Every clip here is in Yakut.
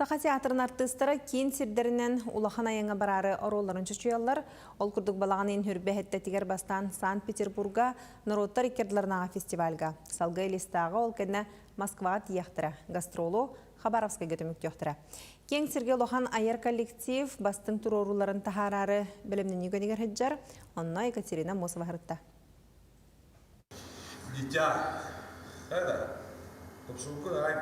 Саха театрын артыыстара киин сирдэринэн улахан айаҥҥа бараары оруолларын чочуйаллар. Ол курдук балаҕан иһин үрбэ эһэттэтигэр бастаан Санкт-Петербурга норуоттар икки ардыларынааҕы фестивальга, Салгыы Элистааҕы, ол кэннэ Москваҕа тиийэхтэрэ, гастролу Хабаровскайга түмүктүөхтэрэ. Киэҥ сиргэ улахан айар коллектив бастыҥ туруорууларын таһаараары бэлэмнэнии көнигэр сылдьар. Онно Екатерина Мосова сырытта. Дитя, это, тупсууккун аҕай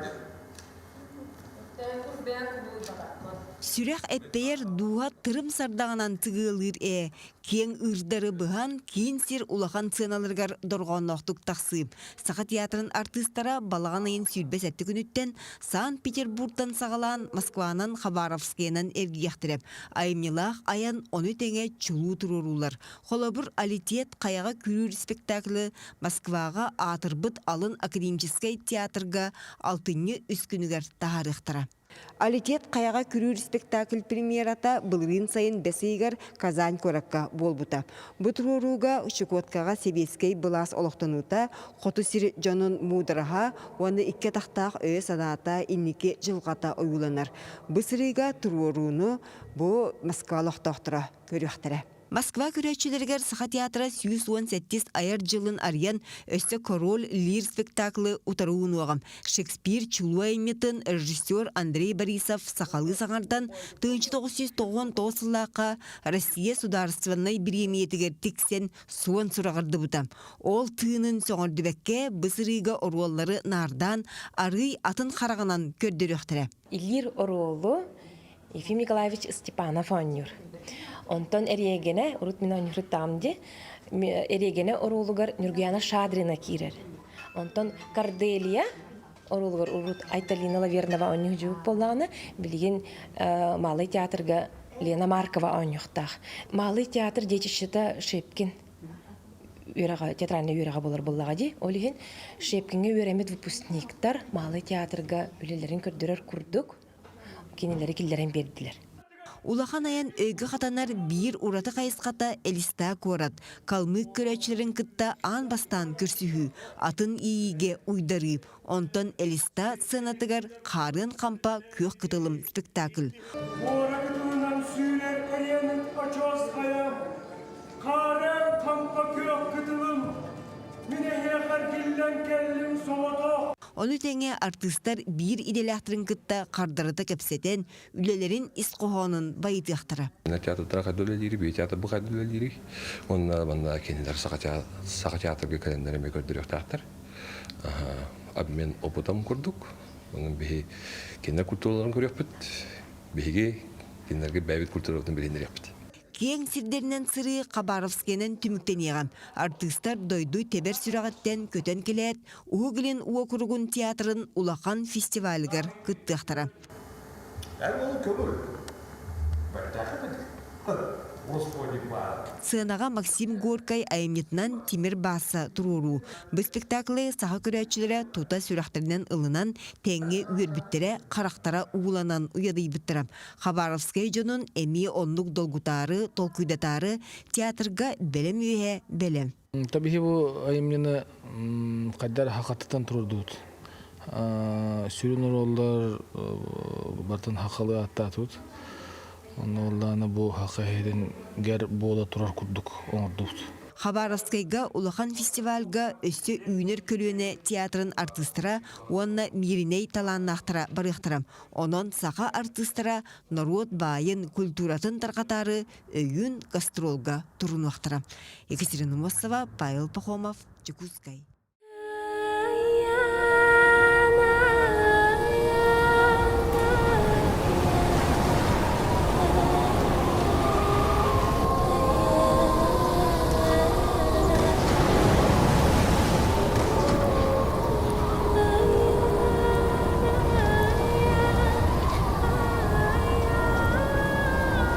Сүрэх эппэйэр дууһа тырым сардаҕынан тыгыалыыр ээ, киэҥ ыырдары быһан, киин сир улахан сыаналарыгар дорҕоонноохтук тахсыы. Саха театрын артыыстара балаҕан ыйын сүүрбэ сэттэ күнүттэн Санкт-Петербуртан саҕалаан Москванан Хабаровскайынан эргийиэхтэрэ. Айымньылаах айан ону тэҥэ чулуу туруоруулар. Холобур, Алитет хайаҕа күрүүр спектаклы Москваҕа аатырбыт алын академическай театрга алтынньы үскүнүгэр таһаарыахтара. Алитет хайаҕа күрүүр спектакль премьерата былырыын сайын бэс ыйыгар Казань куоракка буолбута. Бу туруорууга Щекоткаҕа сэбиэскэй былаас олохтонуута, хоту сир дьонун муудараһа уонна икки атахтаах өйө-санаата инники дьылҕата ойууланар. Бу сырыыга туруорууну бу Москва олохтоохторо көрүөхтэрэ. Москва көрөөччүлэригэр Саха театра сүүс уон сэттис айар дьылын арыйан, өссө Король, Лир спектаклы утары уунуоҕум. Шекспир чулуу айымньытын режиссер Андрей Борисов сахалыы саҥардан, тыһыынча тоҕус сүүс тоҕоҕонтоҕус сыллаахха Россия судаарыстыбаннай бириэмийэтигэр тиксэн суон сураҕырдыбыта. Ол тыынын сөҕөрдүбэккэ, бу сырыыга оруоллары наардаан, арыый атын хараҕынан көрдөрүөхтэрэ. Илиир оруолу Ефим Николаевич Степанов оонньуур. Онтон эриэгэнэ, урут мин оонньуурутаам дии, эриэгэнэ оруолугар Нюргуяна Шадрина киирэр. Онтон Корделия оруолугар урут Айталина Лавернова оонньуур дьубук буоллаҕына, билигин Малый театрга Лена Маркова оонньуохтаах. Малый театр деятельщита Шепкин үөрэҕэ театральнай үөрэҕэ буолар буоллаҕа дии ол иһин шепкиҥҥэ үөрэммит выпускниктар маалы театрга үлэлэрин көрдөрөр курдук кинилэри киллэрэн биэрдилэр Улахан айан өйгө хатанар биир ураты хайысхата Элистаа куорат Калмык көрөөччүлэрин кытта аан бастаан көрсүһүү атын иигэ уйдарыы Онтон Элиста сценатыгар Хаарыан Хампа күөх кытылым спектакль. Куоракытынан сүүрэр кэриэмит очуосхайа, Хаарыан Хампа күөх кытылым, мин эһиэхэ эргиллэн кэллим соҕотох. Ону тэҥэ артыыстар биир идэлээхтэрин кытта хардарыта кэпсэтэн, үлэлэрин ис хоһоонун байытыахтара. Театрдара хайда үлэлиири, бии театрбы хайда үлэлиири. Онна манна кинилэр саха театрга кэлэннэр эмиэ көрдөрүөхтээхтэр. Обмен опытом курдук. Онон биһи кинилэр культураларын көрүөхпүт. Биһиги кинилэргэ бэйэбит культурабытын билинэриэхпит. Киэҥ сирдэринэн сырыы Хабаровскайынан түмүктэниэҕэ. Артыыстар дойду тэбэр сүрэҕиттэн көтөн кэлээт, Уһук Илин уокуругун театрын улахан фестивалыгар кыттыахтара. Эр уолу көбүр. Бэртээхэтин. Господи баар. Сыанаҕа Максим Горькай айымньытынан Тимир Баасса туруоруу. Бу спектаклы саха көрөөччүлэрэ тута сүрэхтэринэн ылынан, тэҥҥэ үөрбүттэрэ, харахтара ууланан уйадыйбыттара. Хабаровскай дьонун эмиэ оннук долгутаары, толкуйдатаары театрга бэлэм үөһэ бэлэм. Табиһи бу айымньыны хайдар хакатытан турдубут. Сүрүн оруоллар батын хакалы аттаатыбыт. Онно оллаана бу хака хедин гер буола турар курдук оңордубут. Хабаровскайга улахан фестивальга өссө үүнэр көлүөнэ театрын артыыстара уонна мииринэй талааннаахтара барыахтара. Онон саха артыыстара норуот баайын, культуратын тарҕатаары өйүүн гастролга турунуохтара. Екатерина Мосова, Павел Пахомов, Чекускай.